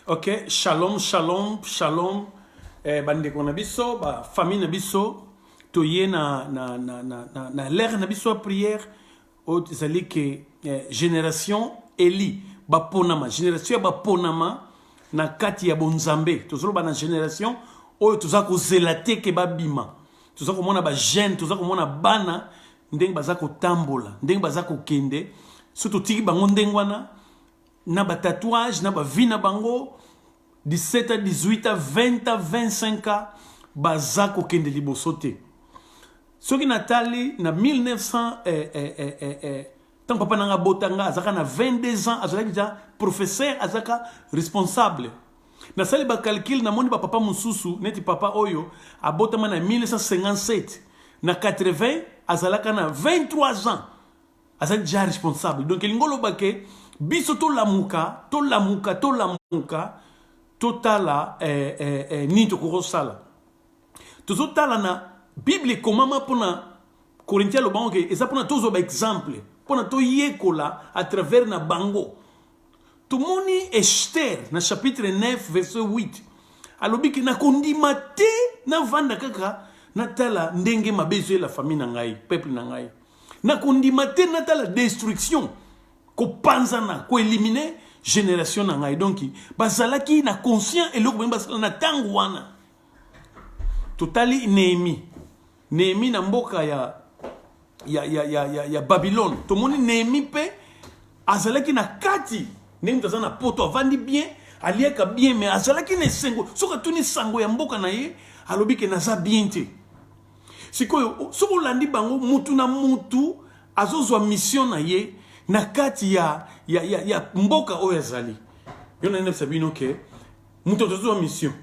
ok shalom shalom shalom eh, bandeko na biso bafamille na biso toye na, na, na, na, na, na lere na biso ya priere oyo ezali ke eh, génération eli baponama génération ya baponama na kati ya bonzambe tozoloba na génération oyo toza kozela te ke babima toza komona bajeune toza komona bana ndenge baza kotambola ndenge baza kokende so totiki bango ndenge wana na ba tatouage na ba vie na bango 17 à 18 à 20 à 25 ans baza kokende liboso te soki natali na 1900 eh, eh, eh, eh, eh, ntango papa nanga abota nga azalaka na 22 ans azalaki ja professeur azalaka responsable nasali bacalcule namoni bapapa mosusu neti papa oyo abotama na 1957 na 80 azalaka na 23 ans aza deja responsable donc elingi oloba ke biso tolamuka tolamuka tolamuka totala eh, eh, eh, nini tokoki kosala tozotala na bible ekomama mpona korinti alobango ke eza mpona tozwa baexemple mpona toyekola à travers na bango tomoni ester na chapitre 9 verset 8 alobi ke nakondima te navanda kaka natala ndenge mabe ezoyela famille na ngai peuple na ngai nakondima te natala destruction kopanzana koelimine génération na ngai donc bazalaki na conscient eloko bani basala na ntango wana totali nehemi nehemi na mboka ya, ya, ya, ya, ya, ya babylone tomoni nehemi mpe azalaki na kati ndenge moto aza na poto avandi bien aliaka bien me azalaki na esengo soki atuni sango ya mboka na ye alobi ke naza bien te sikoyo soki olandi bango mutu na mutu azozwa mission na ye na kati ya, ya, ya, ya mboka oyo azali yo na nayebisa bino ke moto tozozwa mission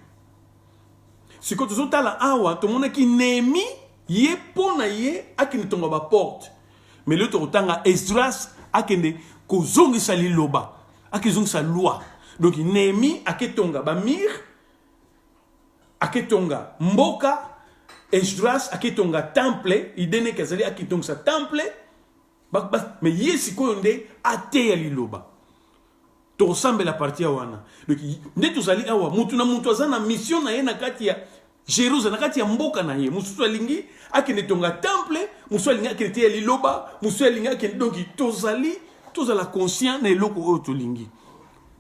sikoyo tozotala awa tomonaki nemi ye mpo na ye akende tonga baporte mais leo tokotanga esdras akende kozongisa liloba akezongisa loi donc nemi aketonga bamire aketonga mboka esdras aketonga temple ideneke azali aketongisa temple me ye sikoyo nde ateya liloba tokosambela parti ya wana donc nde tozali awa motu na motu aza na mission na ye na kati ya jerusalem na kati ya mboka na ye mosusu alingi akende tonga temple mosusu alingi akende te ya liloba mosusu alingi akende donki tozali tozala conscient na eloko oyo tolingi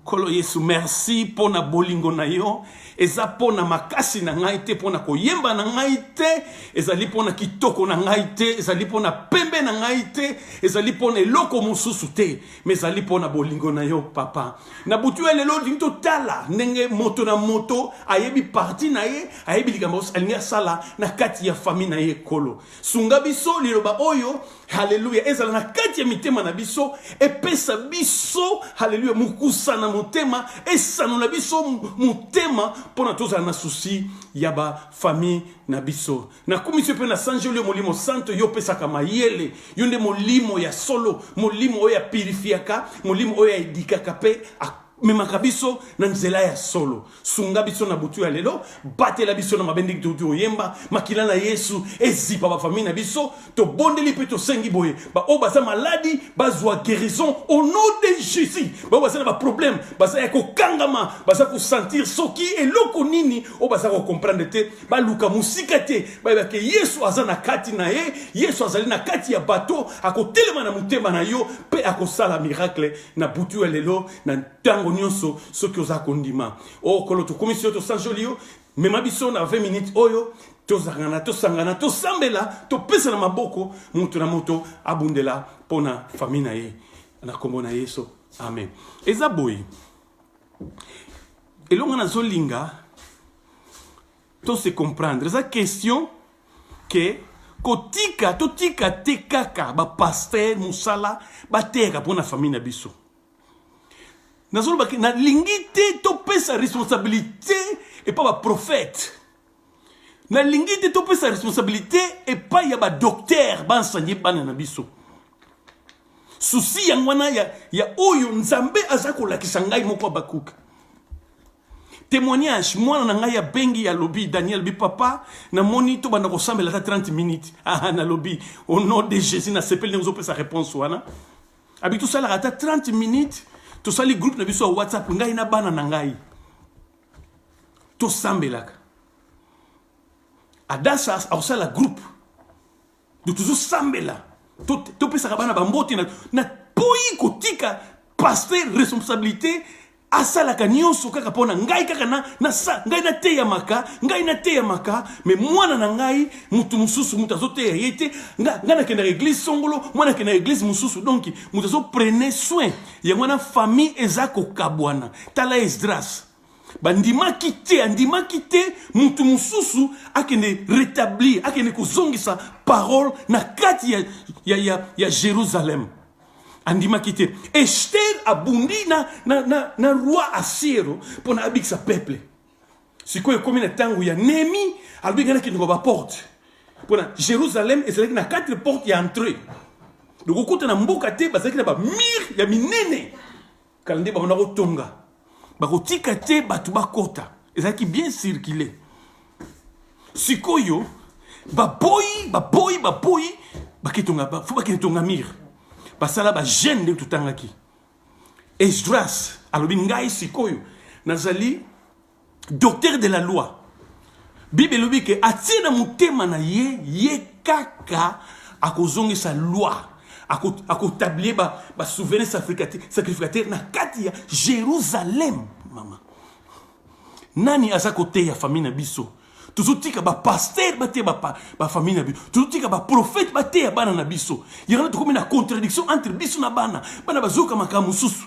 Nkolo Yesu, merci mpo na bolingo na yo. Eza mpo na makasi na ngai te, mpo na koyemba na ngai te, ezali mpo na kitoko na ngai te, ezali mpo na pembe na ngai te, ezali mpo na eloko mosusu te, ma ezali mpo na bolingo na yo, Papa. Na butu ya lelo olingi totala ndenge moto na moto ayebi parti na ye, ayebi likambo alingi asala na kati ya famille na ye. Nkolo, sunga biso liloba oyo haleluya ezala na kati ya mitema na biso epesa biso haleluya mokusa na motema esanola biso motema mpo na tozala na susi ya bafamille na biso nakumisi mpe nasanjeli yo molimo santo yo opesaka mayele yo nde molimo ya solo molimo oyo apirifiaka molimo oyo aedikaka mpe memaka biso na nzela ya solo sunga biso na butu ya lelo batela biso na mabe ndenge touti oyemba makila na yesu ezipa bafamille na biso tobondeli mpe tosengi boye baoyo baza maladi bazwa guérison au nom de jésus baoyo baza na baproblème baza ya kokangama baza kosentir soki eloko nini oyo baza kocomprendre te baluka mosika te bayebake yesu aza na kati na ye yesu azali na kati ya bato akotelema na motema na yo mpe akosala miracle na butu ya lelo na ntango nyonso soki oza kondima o oh, kolo tokumisi yo tosanjoli yo mema biso na 20 minutes oyo tozangana tosangana tosambela topesana maboko moto na moto abundela mpo na fami na ye na nkombo na yesu amen eza boye elongo nazolinga To se comprendre eza question que kotika totika te kaka ba pasteur musala bateyaka mpo na famille na biso nazolobaki nalingi te topesa responsabilité epa baprophète nalingi te topesa responsabilité epai ya badoktere bansanye bana na biso susi yango wana ya, ya oyo nzambe aza kolakisa ngai moko abakuka témoignage mwana na ngai abengi alobi daniel bi papa namoni tobanda kosambela ata 30 minutes aha nalobi au nom de jésus nasepeli ndenge ozopesa réponse wana abi tosalaka ata 30 minutes tosali groupe na biso ya whatsapp ngai na bana na ngai tosambelaka adasa akosala groupe tozosambela topesaka bana bambote na poyi kotika paster responsabilité asalaka nyonso kaka mpo na ngai kaka na, na sa, ngai nateyamaka ngai nateyamaka me mwana na ngai moto mosusu moto azoteya ye te ngai nga nakendaka eglise songolo mwana akendaka eglise mosusu donk moto azoprene soin yango wana famille eza kokabwana tala esdras bandimaki te andimaki te mutu mosusu akende rétablir akende kozongisa parole na kati ya, ya, ya, ya jérusalem andimaki te ester abundi na, na, na, na roi asiero mpo na abikisa peuple sikoyo ekomi na ntango ya nemi alobi ngai nakendoko baporte mpo na jérusalem ezalaki na quatre porte ya entrée lokokuta na mboka te bazalaki na bamire ya minene kala nde babanda kotonga bakotika te bato bakota ezalaki bien circule sikoyo baboyi baboyi baboyi baketonga fo bakende tonga mire basala bagene ndenge totangaki esdras alobi ngai sikoyo nazali docteur de la loi bible elobi ke atie na motema na ye ye kaka akozongisa loi akotablie basouverain sacrificateur na kati ya jérusalem mama nani aza koteya famille na biso tozotika bapaster bateya bafamille na biso tozotika baprofete bateya bana na biso yango tokomi na contradiction entre biso na bana bana bazoyoka makambo mosusu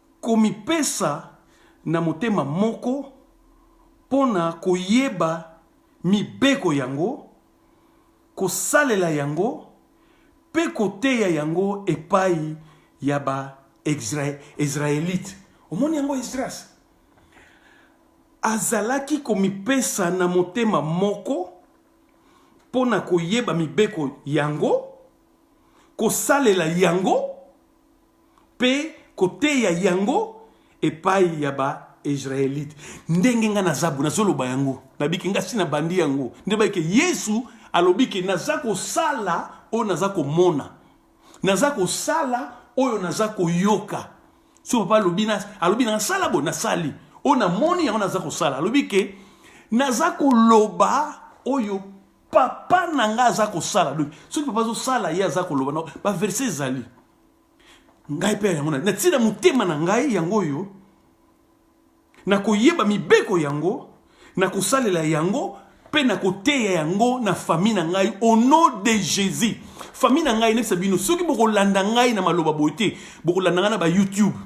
Komipesa na motema moko mpo na koyeba mibeko yango, kosalela yango, mpe koteya yango epai ya Baezraelite. Omoni yango? Esdras azalaki komipesa na motema moko mpo na koyeba mibeko yango, kosalela yango, mpe koteya yango epai ya ba israelite ndenge ngai naza bo nazoloba yango nabiki ngai si nabandi yango nde bayike yesu alobi ke naza kosala oyo naza komona naza kosala oyo naza koyoka so papa alobi alobi nasala bo nasali oyo namoni yango naza kosala alobi ke naza koloba oyo papa na ngai aza kosala donc soki papa azosala ye aza koloba baverse ezali ngai mpe yango natii na motema na ngai yango oyo na koyeba mibeko yango na kosalela yango mpe na koteya yango na fami na ngai au nom de jésus fami na ngai nayebisa bino soki bokolanda ngai na maloba boye te bokolanda ngai na bayoutube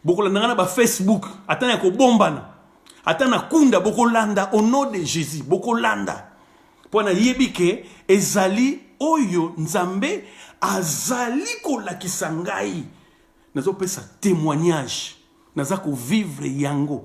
bokolanda nga na ba facebook ata ya kobombana ata na kunda bokolanda au nom de jésus bokolanda mpo nayebi ke ezali oyo nzambe azali kolakisa ngai nazopesa témoignage naza kovivre yango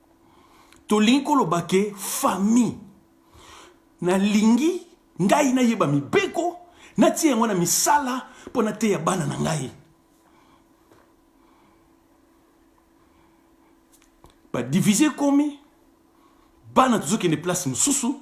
tolingi koloba ke famille nalingi ngai nayeba mibeko natie yango na misala mpo nateya bana na ngai badivise ekomi bana tozokende place mosusu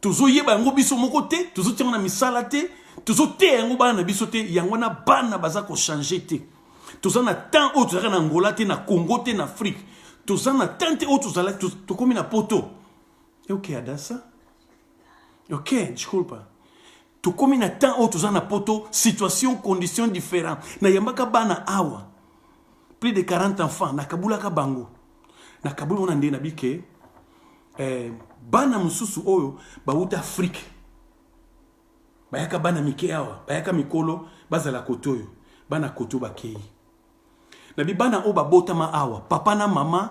tozoyeba yango biso moko te tozotia yango na misala te tozoteya yango bana na biso te yango wana bana baza kochange te toza na temps oyo tozalaka na angola te na congo te na afrique toza na temps te oyo tozalaki tokomi na poto ok adasa ok disculpa tokomi na temps oyo toza na poto situation condition différent nayambaka bana awa plus de 40 enfants nakabulaka bango nakabuli wana nde nabike eh, bana mosusu oyo bauta afrike bayaka bana mike awa bayaka mikolo bazala kote oyo bana kote oyo bakei na bibana oyo babotama awa papa na mama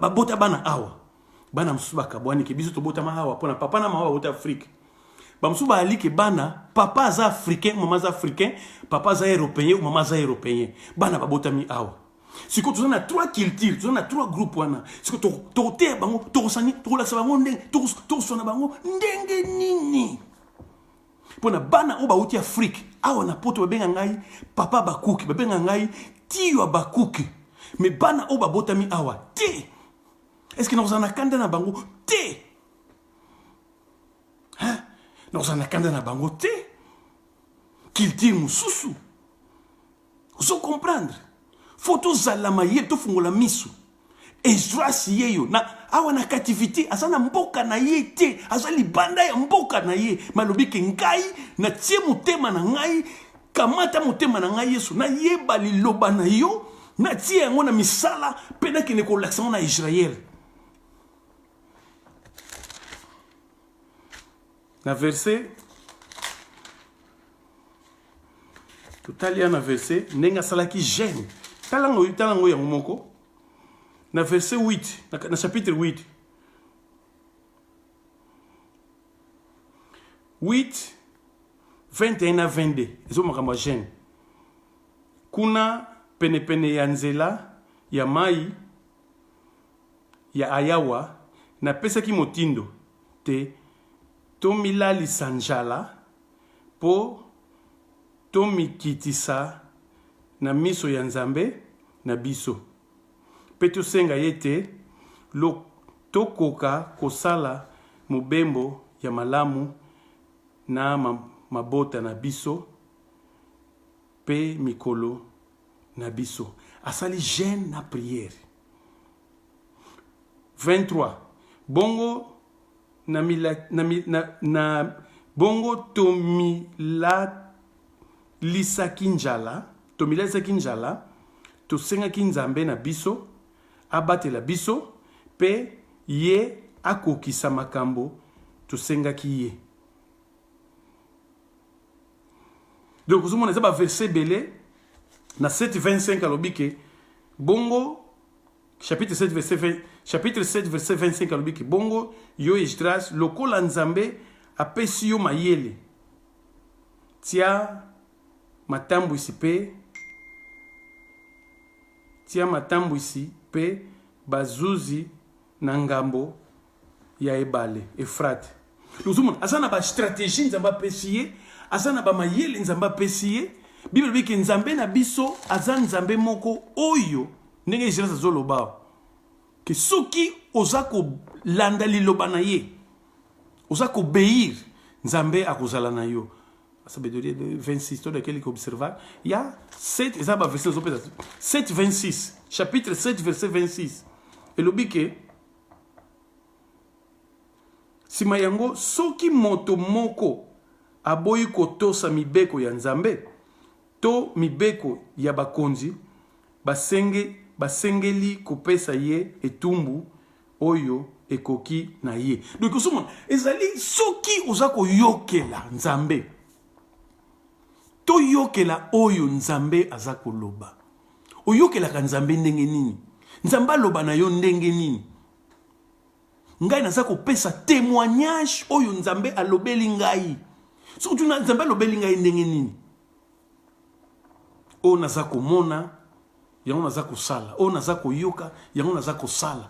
babota bana awa bana mosusu bakabwani ke biso tobotama awa mpona papa na mama bauta afrike bamosusu bayali ke bana papa aza africain mama aza africain papa aza européen mama aza européen bana babotami awa sikoyo toza na trois culture toza na trois groupe wana sikoyo tokoteya bango tokosani tokolakisa bango ndenge tokoswana bango ndenge nini mpo na bana oyo bauti afrike awa na poto babenga ngai papa bakuki babenga ngai tiyo bakuki me bana oyo babotami awa te eske nakozala na kanda na bango te nakozala na kanda na bango te kiltire mosusu ozo comprendre fo tozala mayele tofungola miso esdras yeyo na awa na cativité aza na mboka na ye te aza libanda ya mboka na ye malobi ke ngai natie motema na ngai kamata motema na ngai yesu nayeba liloba na yo natie yango na misala mpe nakende kolakisa yango na israele na verse totali ya na verse ndenge asalaki gene tala ngo tala ngo yango moko na verse 8 na chapitre 8 8 21 na 22 ezo makambo ya gene kuna penepene ya nzela ya mai ya ayawa napesaki motindo te Tomilalisa njala mpo tomikitisa na miso ya Nzambe na biso mpe tosenga ye ete tokoka kosala mobembo ya malamu na mabota na biso mpe mikolo na biso. Asali jeune na prière. 23 bongo na, mila, na, na, na bongo tomilalisaki njala tomilalisaki njala tosengaki nzambe na biso abatela biso mpe ye akokisa makambo tosengaki ye donc ozomona eza baverse ebele na 725 alobi ke bongo chapitre 7 verset 20 chapitre 7 verset 25 alobi ki bongo yo esdras lokola nzambe apesi yo mayele tia matambwisi mpe tia matambwisi mpe bazuzi na ngambo ya ebale efrate ozomona aza na bastratégie nzambe apesi ye aza na bamayele nzambe apesi ye bible elobi ke nzambe na biso aza nzambe moko oyo ndenge ezelas azoloba awa ke soki oza kolanda liloba na ye oza kobeir nzambe akozala na yo asabedoli 26 tolekeli koobserva ya 7 eza baverse nazopesa 7 26 chapitre 7 verset 26 elobi ke Sima yango, soki moto moko aboyi kotosa mibeko ya Nzambe to mibeko ya bakonzi, basenge, basengeli kopesa ye etumbu oyo ekoki na ye. Donc osomona ezali soki oza koyokela Nzambe, toyokela oyo Nzambe aza koloba. oyokelaka nzambe ndenge nini nzambe aloba na yo ndenge nini ngai naza kopesa témoignage oyo nzambe alobeli ngai soki tuna nzambe alobeli ngai ndenge nini oyo naza komona yango naza kosala oyo naza koyoka yango naza kosala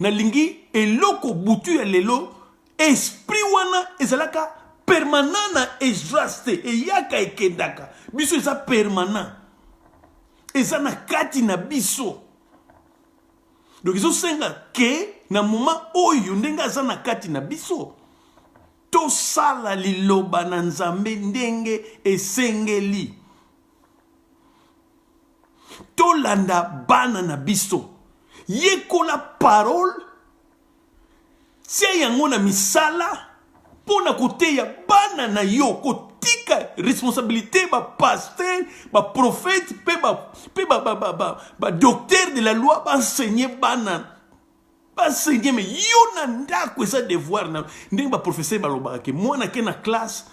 nalingi eloko butu ya lelo esprit wana ezalaka permanent na esdras te eyaka ekendaka biso eza permanent eza na kati na biso donc ezosenga ke na moma oyo ndenge aza na kati na biso tosala liloba na nzambe ndenge esengeli tolanda bana na biso yekola parole tia yango na misala mpo na koteya bana na yo kotika responsabilité bapaster baprofete mpe badoktere ba, ba, ba, ba de la loi baenseigne bana basengieme yo na ndako eza devoir na ndenge baprofesseur balobaka ke mwana ke na classe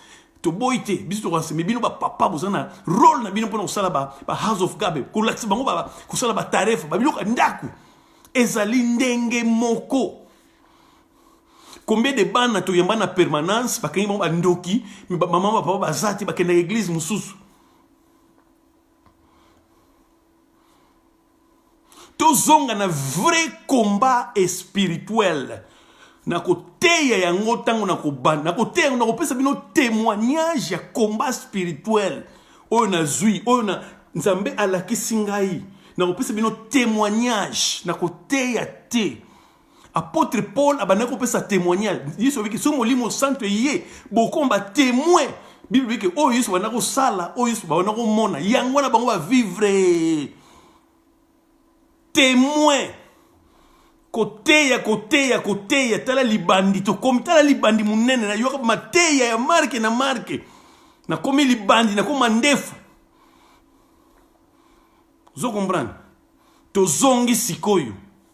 toboyi te biso tokanseme bino bapapa boza na role na bino mpona kosala ba, ba house of gabe kolakisa bango ba, kosala batarefa babiloko ya ndako ezali ndenge moko combien de bana toyamba na permanence bakangi bango bandoki me bamama bapapa baza te bakendaka eglize mosusu tozonga na vrai combat espirituel na koteya yango ntango na kobanda na koteya yango na kopesa bino témoignage ya combat spirituel oyo nazwi oyo na nzambe alakisi ngai na kopesa bino témoignage na koteya te Apôtre Paul abandaki kopesa témoignage. Yesu abiki so molimo santo eye bokomba témoin. Bible biki oyo Yesu banda kosala, oyo Yesu banda komona, yango wana bango ba vivre témoin koteya koteya koteya tala libandi tokomi tala libandi monene nayoka mateya ya marke na marke nakomi libandi nakoma ndefu ozo comprendre tozongi sikoyo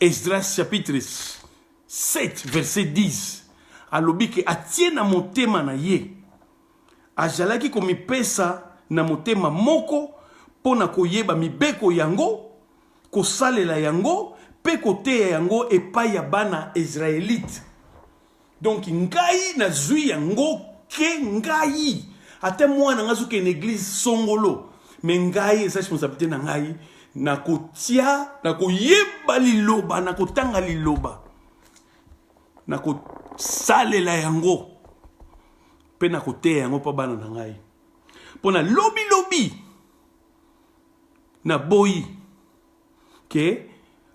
Esdras chapitre 7 verset 10 alobi ke atie na motema na ye azalaki komipesa na motema moko mpo na koyeba mibeko yango kosalela yango mpe koteya yango epai ya bana israelite Donc ngai nazui yango ke ngai ata mwana ngai azoke na eglise songolo me ngai eza responsabilité na ngai nakotia nakoyeba liloba nakotanga liloba nakosalela yango mpe nakoteya yango mpo bana na ngai mpo na lobilobi naboyi ke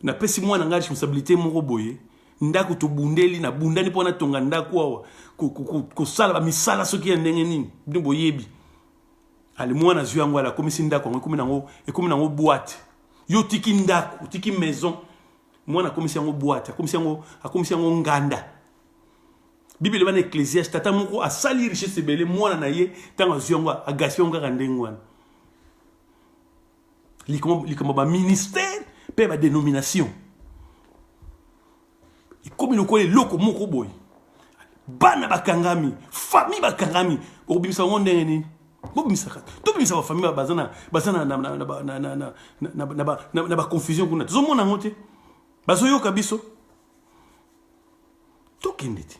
napesi mwana ngai responsabilité moko boye ndako tobundeli nabundani mpo natonga ndako awa kosala bamisala soki ya ndenge nini bino boyebi ale mwana azwi yango ala akomisi ndako yango ekomi nango ekomi nango boite yo otiki ndako otiki maison mwana akomisi yango boite akomisi yango akomisi yango nganda bibele bana ecclesiaste tata moko asali richesse ebele mwana na ye ntango azwi yango agaspia yango kaka ndenge wana likambo ba ministère mpe ba dénomination ekomi lokola eloko moko boye bana bakangami famille bakangami okobimisa yango ndenge nini bobimisaka tobimisa bafamille baza na baconfusion kuna tozomona yango te bazoyoka biso tokende te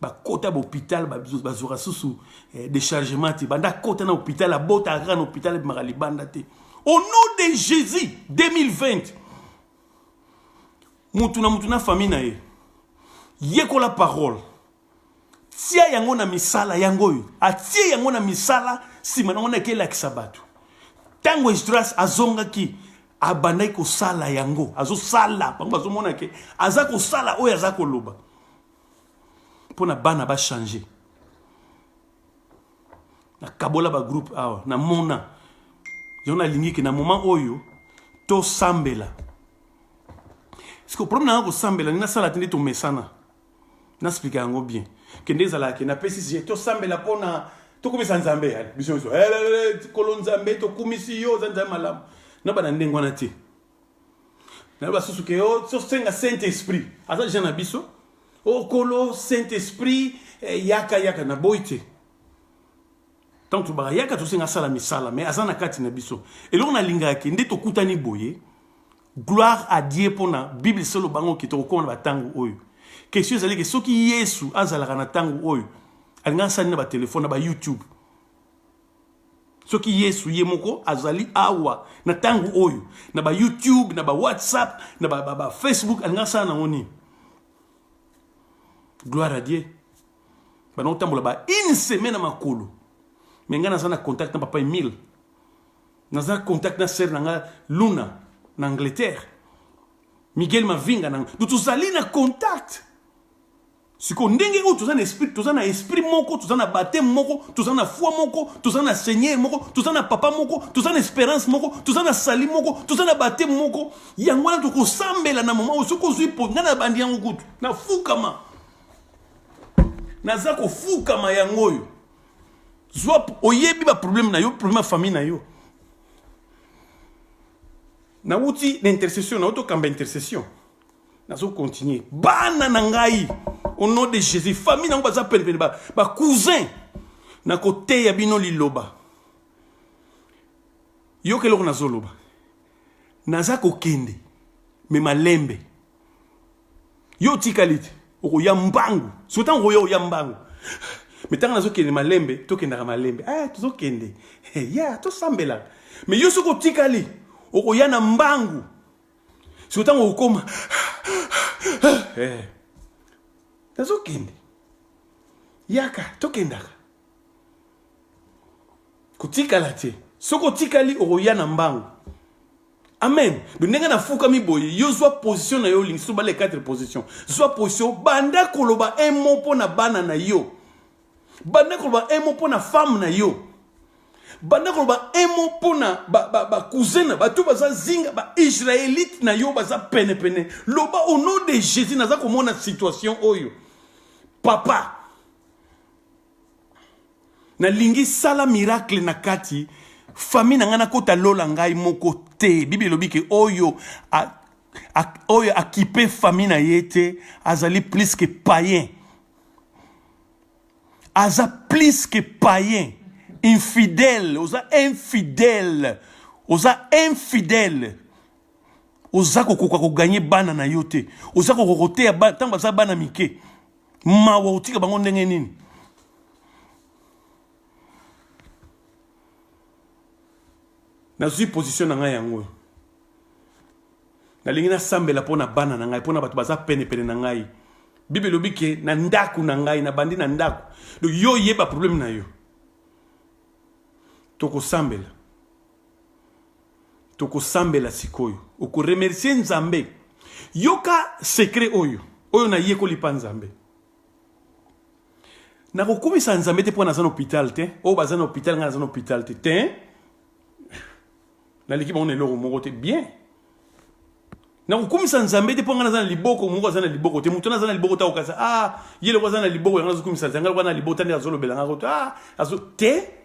bakota ba hôpital bazwaka susu eh, déchargement te banda akota na hôpital abotaka kaka na hôpital ebimaka libanda te au nom de jésus 2020 mutu na mutu na famille na ye yekola parole tia yango na misala yango oyo atie yango na misala nsima nango na ekelakisa bato ntango esdras azongaki abandaki kosala yango azosala bango bazomona ke aza kosala oyo aza koloba mpo na bana bachange nakabola bagroupe awa namona yango nalingi ke na moment oyo tosambela siko problème nanga kosambela nde nasala te nde tomesana nasplika yango bien kende ezalaka ke napesi sie tosambela mpona tokumisa nzambe ya biso biso kolo nzambe tokumisi yo oza nzambe malamu na bana ndenge wana te na yo basusu ke oh, tosenga saint esprit aza jean na biso okolo oh, saint esprit eh, yaka yaka na boyi te ntango tobaka yaka tosenga asala misala mai aza na kati na biso eloko nalingaki nde tokutani boye Gloire à Dieu pona Bible solo bango ki tokokoma na batango oyo. Question ezali ke soki Yesu azalaka na tango oyo alingaka sani na ba telefone na ba YouTube. Soki Yesu ye moko azali awa na tango oyo na ba YouTube na ba WhatsApp na ba, ba, ba Facebook alingaka sala nango nini? Gloire à Dieu. Bana otambola ba une semaine na makolo. Mais ngai naza na contact na papa Emile naza contact na sœur na nga Luna na Angleterre Miguel Mavinga na donc tozali na contact sikoyo ndenge oyo toza na esprit toza na esprit moko toza na bateme moko toza na foi moko toza na seigneur moko toza na papa moko toza na espérance moko toza na sali moko toza na bateme moko yango wana tokosambela na mama oyo soki ozwi po ngai na bandi yango kutu nafukama naza kofukama yango oyo zwa oyebi ba problème na yo problème ya famille na yo nauti na intercession nauti okamba intercession nazo continuer bana na ngai au nom de jésus famille nango baza penepene bacousin nakoteya bino liloba yoka eloko nazoloba naza kokende me malembe yo otikali te okoya mbangu soki ntango okoya oya mbangu me ntango nazokende malembe tokendaka malembe ah, tozokende hey, eh, ya tosambelaka me yo soki otikali okoya na mbangu soki ntango okokoma eh, nazokende yaka tokendaka kotikala te soki otikali okoya na mbangu amen ndenge nafukami boye yo zwa position na yo olingi so bale 4 position zwa position banda koloba un mot mpo na bana na yo banda koloba un mot mpo na femme na yo banda koloba un mot mpo na bacousin ba, ba bato baza zinga baisraelite na yo baza penepene loba au nom de jésus naza komona situation oyo papa nalingi sala miracle na kati famille na ngai nakota lola ngai moko te bibi elobi ke oyo a, a, oyo akipe famille na ye te azali plus que païen aza plus que païen infidèle oza infidèle oza infidèle oza kokoka koganye bana na yo te oza kokoka koteya ntango baza bana mike mawa otika bango ndenge nini nazwi position na ngai yango oyo nalingi nasambela mpo na bana na ngai mpo na bato baza penepene na ngai bible elobi ke na ndako na ngai nabandi na ndako donc yo oyeba probleme na yo tokosambela tokosambela sikoyo okoremercie nzambe yoka sekre oyo oyo nayekoli mpa nzambe nakokumisa nzambe te mpo naza na hôpital te oyo baza na hôpital ngai naza na hôpital te te naleki bango na eloko moko te bien nakokumisa nzambe te mpo ngai naza na liboko moko aza na liboko te moto naza na liboko te akokasa a ah, ye loko aza na liboko yango azokumisa nzambe ngai loko na liboko tani azolobela ngai koto a ah, azo te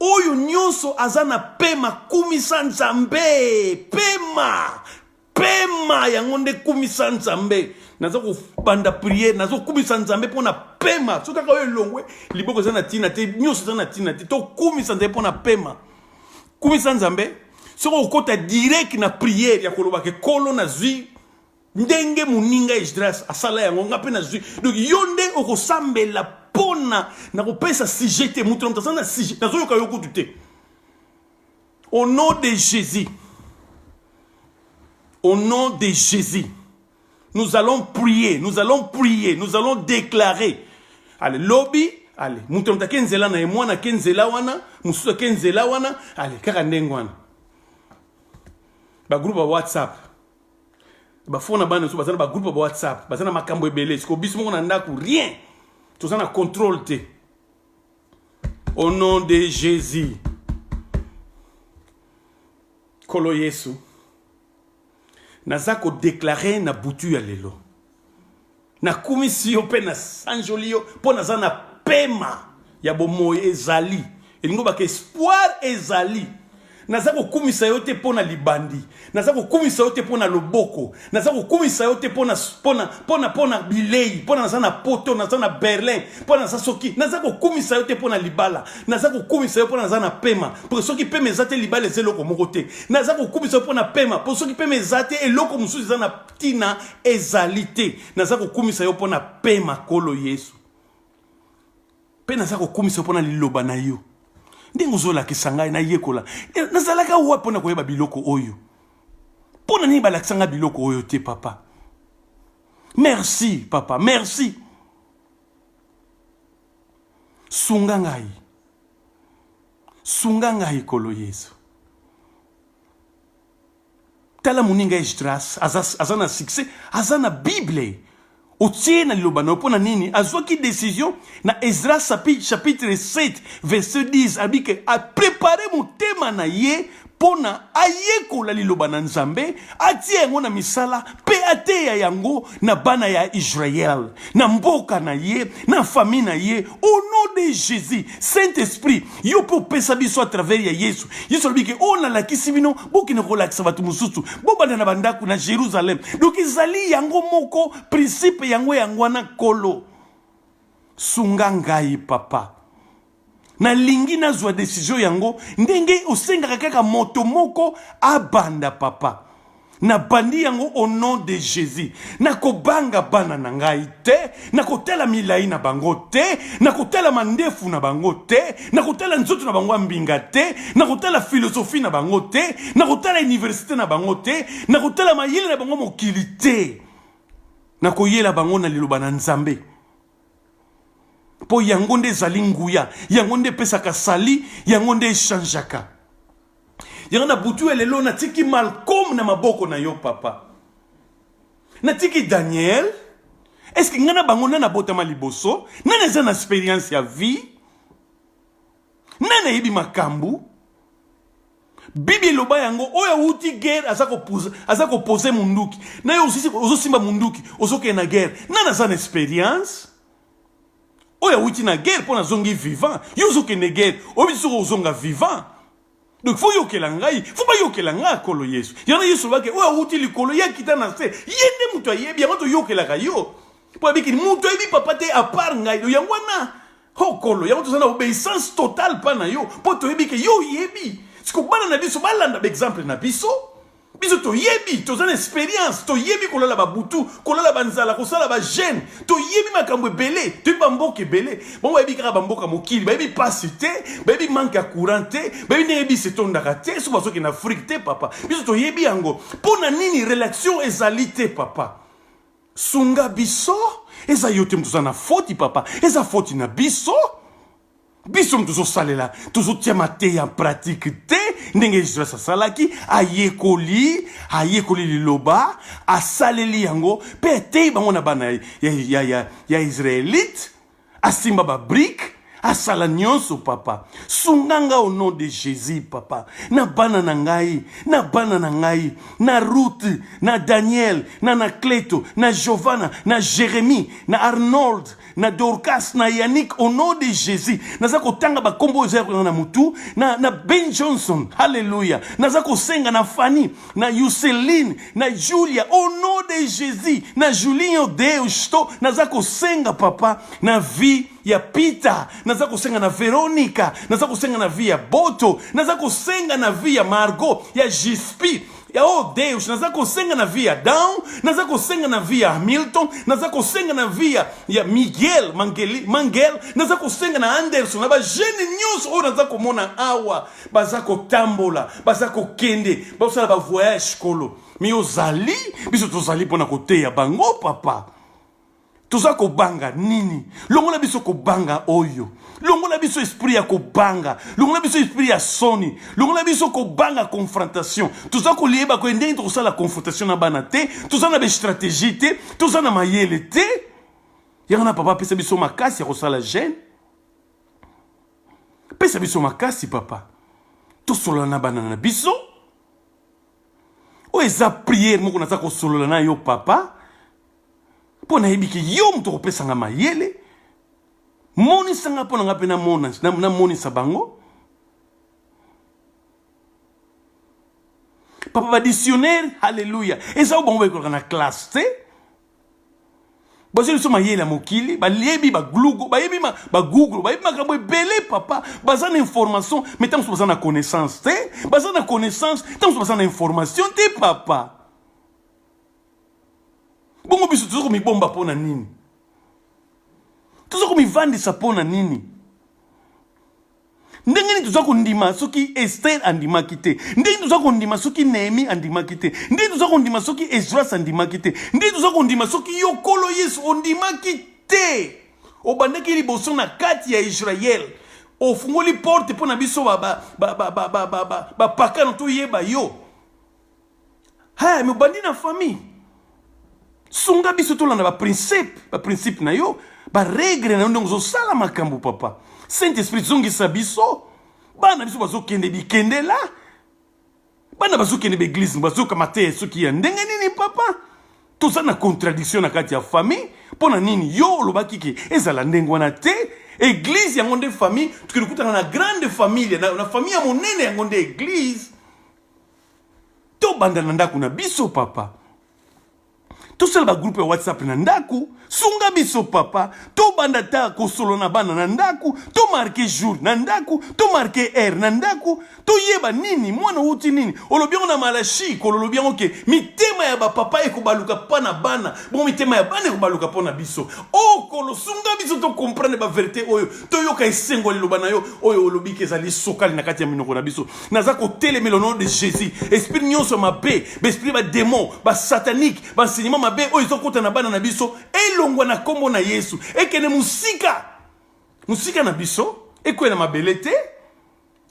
Oyo nyonso aza na pema kumisa Nzambe. Pema, pema yango nde kumisa Nzambe. Naza kobanda priere, nazo kumisa Nzambe mpo na pema. Soki kaka oyo elongwe, liboko eza na tina te, nyonso eza na tina te. To kumisa Nzambe mpo na pema. Kumisa Nzambe. Soki okota direct na priere ya kolobaka ekolo nazwi ndenge moninga esdras asala yango nga mpe nazwi donc yo nde okosambela mpona na kopesa sujet te moto na moto aza na sujet nazoyoka yo kutu te au nom de jésus au nom de jésus nous allons prier nous allons prier nous allons déclarer ale lobi ale moto na moto ake nzela na ye mwana ake nzela wana mosusu ake nzela wana ale kaka ndenge wana bagroupe ya whatsapp bafo na bana so baza na bagroupe ya bawhatsapp baza na makambo ebele siko biso moko na ndako rien toza na contrôle te au nom de jésus nkolo yesu naza kodeklare na butu ya lelo nakumisi yo mpe nasanjoli yo mpo naza na pema ya bomoi ezali elingi obaka espoir ezali naza kokumisa yo te mpo na libandi naza kokumisa yo te mpo na loboko naza kokumisa yo te mpo na bilei mpo na naza na poto naza na berlin mpo naza soki naza kokumisa yo te mpo na libala naza kokumisa yo mpo na naza na pema mpo soki pema eza te libala eza eloko moko te naza kokumisa yo mpo na pema mpo soki pema eza te eloko mosusu eza na tina ezali te naza kokumisa yo mpona pema kolo yesu mpe naza kokumisa yo mpona liloba na yo ndenge ozolakisa ngai nayekola eh, nazalaka wa mpona koyeba biloko oyo mpo na nini balakisa ngai biloko oyo te papa merci papa merci sunga ngai sunga ngai kolo yesu Tala muninga Esdras aza, aza na succès, aza na Bible otie na liloba na yo mpo na nini azwaki decision na Esdras chapitre 7 verset 10 abike aprepare motema na ye mpo na ayekola liloba na Nzambe, atia yango na misala mpe ateya yango na bana ya Israël, na mboka na ye, na famille na ye, au nom de Jésus, Saint-Esprit, yo pe opesa biso à travers ya Yesu. Yesu alobi ke oyo oh, nalakisi bino, bokende kolakisa bato mosusu, bobanda na bandako na Jérusalem. Donc ezali yango moko principe yango yango wana kolo. Sunga ngai papa. nalingi nazwa desizio yango ndenge osengaka kaka moto moko abanda papa nabandi yango au nom de jésus nakobanga bana na ngai te nakotala milai na bango te nakotala mandefu na bango te nakotala nzoto na bango ya mbinga te nakotala filosofi na bango te nakotala iniversite na bango te nakotala mayele na bango mokili te nakoyela bango na liloba na nzambe mpo yango nde ezali nguya yango nde epesaka sali yango nde echangeaka yango na butu ya lelo natiki malcome na maboko na yo papa natiki daniel eske ngai na bango nani abotama liboso nani eza na experience ya vie nani ayebi makambo Bibi eloba yango oyo awuti guerre aza kopoza aza kopose munduki na yo ozosimba munduki ozokende na guerre nani aza na experience oyo awuti na guerre mpo nazongi vivant yo ozokende guerre oyebi soki ozonga vivant donc fo yokela ngai fo bayokela ngai akolo yesu yango yesu olobaki oyo awuti likolo ye akita na se ye nde moto ayebi yango toyokelaka yo mpo abiki moto ayebi papa te apart ngai yango wana hokolo yango toza na obeissance totale pa na yo mpo toyebi ke yo oyebi siko bana na biso balanda baexemple na biso biso toyebi toza na experience toyebi kolala babutu kolala banzala kosala bagene toyebi makambo ebele toyebi bamboka ebele bango bayebi kaka bamboka mokili bayebi mpasi te bayebi manke ya courant te bayebi ndenge bisi etondaka te soki bazoki na afrike te papa biso toyebi yango mpo na nini relation ezali te papa Sunga biso eza yo te moto oza na foti papa eza foti na biso biso moto tozosalela tozotia mateya en pratique te ndenge jesus asalaki ayekoli ayekoli liloba asaleli yango mpe ateyi bango na bana ya, ya, ya, ya, ya israelite asimba ba brique asala nyonso papa sunga nga au nom de jésus papa na bana na ngai na bana na ngai na ruth na daniel na nacleto na giovanna na jérémie na arnold na dorcas na yannick au nom de jésus naza kotanga bakombo oyo eza yakolanga na motu na, na ben johnson halleluya naza kosenga na fanny na yuseline na Julia au nom de Jesus na Julinho Deus to naza kosenga papa na vie ya Peter naza kosenga na Veronica naza kosenga na vie ya Boto naza kosenga na vie ya Margot ya Gispi ya oh Deus naza kosenga na vie ya Down naza kosenga na vie ya Hamilton naza kosenga na vie ya, ya Miguel Mangeli, Mangel naza kosenga na Anderson na ba jeune nyonso oyo naza komona awa baza kotambola baza kokende basala bavoyage kolo mi ozali biso tozali mpo na koteya bango papa toza kobanga nini longola biso kobanga oyo longola biso esprit ya kobanga longola biso esprit ya soni longola biso kobanga confrontation toza koliyeba koye ndenge tokosala confrontation na bana te toza na bastratégie te toza na mayele te yango na papa apesa biso makasi ya kosala gene pesa biso makasi papa tosolola na bana na biso oyo eza priere moko naza kosolola na yo papa mpo nayebi ke yo moto okopesa nga mayele monisa nga mpo na nga mpe namonisa bango papa badictionnaire halleluya eza oyo bango bayekolaka na classe te bazwi biso mayele ya mokili bayebi baglugo bayebi baguglo bayebi makambo ebele papa baza na information mai ntango mosusu baza na connaissance te baza na connaissance ntango mosusu baza na information te papa bongo biso toza komibomba mpo na nini toza komivandisa mpo na nini ndenge nini toza kondima soki estere andimaki te ndenge nini toza kondima soki nehemi andimaki te ndenge nini toza kondima soki esdras andimaki te ndenge nini toza kondima soki yo nkolo yesu ondimaki te obandaki liboso na kati ya israele ofungoli porte mpo na biso bapakano toyeba yo Hey, mais obandi na famille. Sunga biso tolanda ba principe, ba principe na yo, ba règle na yo ndongo zo sala makambo papa. Saint Esprit zongisa biso. Bana biso bazo kende bikende la. Bana bazo kende ba église bazo kamata ya soki ya ndenge nini papa. Toza na contradiction na kati ya famille. Pona nini yo olobaki ke ezala ndenge wana te. Église yango nde famille, tukilukutana na grande famille na, na famille ya monene yango nde église. tobanda na ndako na biso papa tosala bagroupe ya whatsapp na ndako sunga biso papa tobanda ta kosolo na bana na ndako tomarke jour na ndako tomarke aire na ndako toyeba nini mwana outi nini olobi yango na malashi kololobi yango ke mitema ya bapapa ekobaluka mpa na bana bongo mitema ya bana ekobaluka mpo na biso okolo oh, sunga biso tokomprendre baverité oyo toyoka esengo ya liloba na yo oyo olobi ke ezali sokali na kati ya minoko na biso naza kotelemela nom de jésus esprit nyonso mabe baesprit bademon basatanike baenseignement mabe oyo ezokota na bana na biso elongwa na nkombo na yesu ekende mosika mosika na biso ekweya na mabele te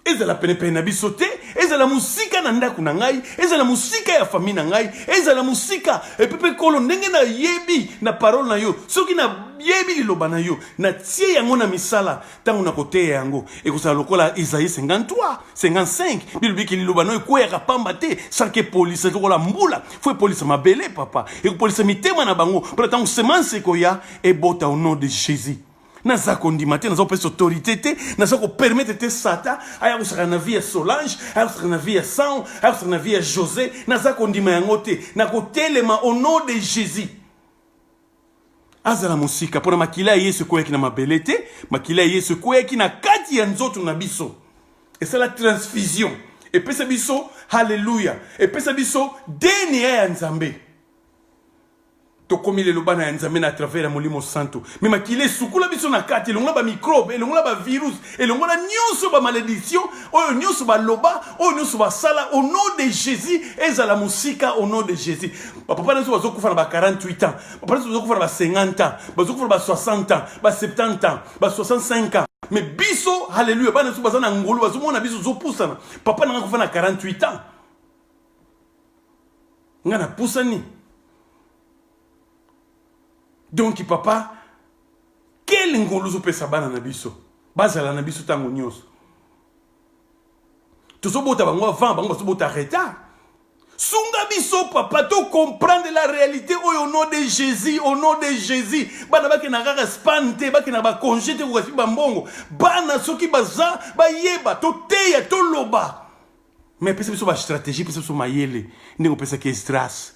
ezala penepene na biso te ezala mosika na ndako na ngai ezala mosika ya fami na ngai ezala mosika epi mpe nkolo ndenge nayebi na parole na yo soki nayebi liloba na yo natie yango na misala ntango na koteya yango ekozala lokola isaïe 53 55 bilobiki liloba no ekweyaka pamba te sanke epolisa lokola mbula fo epolisa mabele papa ekopolisa mitema na bango mpo na ntango semence ekoya ebota au nom de jésus naza kondima te naza kopesa autorité te naza kopermettre te sata aya kosaka na vie ya solange aya kosaka na vie ya san aya kosaka na vie ya josé naza kondima yango te nakotelema au nom de jésus azala mosika mpo na makila ya yesu ekweyaki na mabele te makila ya yesu ekweyaki na kati ya nzoto na biso esala transfusion epesa biso haleluya epesa biso dna ya nzambe tokomi lelo bana ya nzambe na travers ya molimo santu me makila esukola biso na kati elongola bamikrobe elongola bavirus elongola nyonso bamalediction oyo nyonso baloba oyo nyonso basala au nom de jésus ezala mosika au nom de jésus bapapa na biso bazokufa na ba 48 ans bapapa na biso bazokufa na ba 50 ans bazokufa na ba 60 ans ba 70 ans ba 65 ans mais biso halleluya bana biso baza na ngolu bazomona biso zopusana papa na ngai kufa na 48 ans ngai napusani donki papa kele ngolu ozopesa bana na biso bazala na biso ntango nyonso tozobota bango avant bango bazobota retard sunga biso papa to comprendre la réalité oyo au nom de jésus au nom de jésus bana bakenda kaka span te bakenda bakonge te kokasi bambongo bana soki baza bayeba toteya toloba mais pesa biso bastratégie pesa biso mayele ndenge opesaki esdras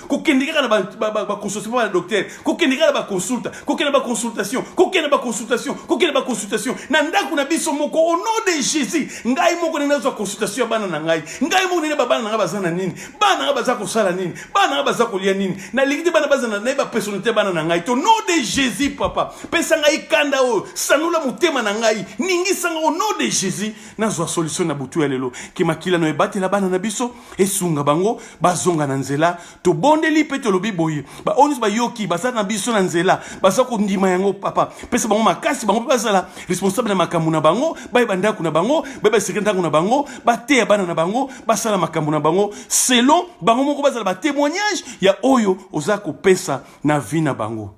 kokende kaka na baconsultation mpo na docteur kokende kaka na baconsulta kokende na baconsultation kokende na baconsultation kokende na baconsultation na ndako na biso moko au nom de jésus ngai moko ndenge nazwa consultation ya bana na ngai ngai moko ndenge babana na ngai baza na nini bana na ngai baza kosala nini bana na ngai baza kolia nini nalingi te bana bazana naye bapersonnalité ya bana na ngai to nom de jésus papa pesa ngai kanda oyo sanola motema na ngai ningisanga au nom de jésus nazwa solution na butu ya lelo ke makila na oyo ebatela bana na biso esunga bango bazonga na nzela tobondeli mpe tolobi boye baoyo nyonso bayoki baza na biso na nzela baza kondima yango papa pesa bango makasi bango mpe bazala responsable na makambo na bango bayeba ndako na bango bayeba esika ndako na bango bateya bana na bango basala makambo na bango selon bango moko bazala batémoignage ya oyo oza kopesa na vie na bango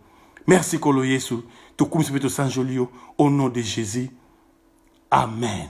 merci kolo yesu tokumisi mpe tosanjoli yo au nom de jésus amen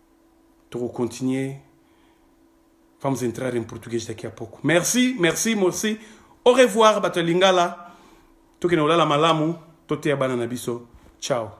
toko continuer vamos entrar em português daqui a pouco merci merci merci au revoir bato ya lingala tokende kolala malamu toteya bana na biso ciao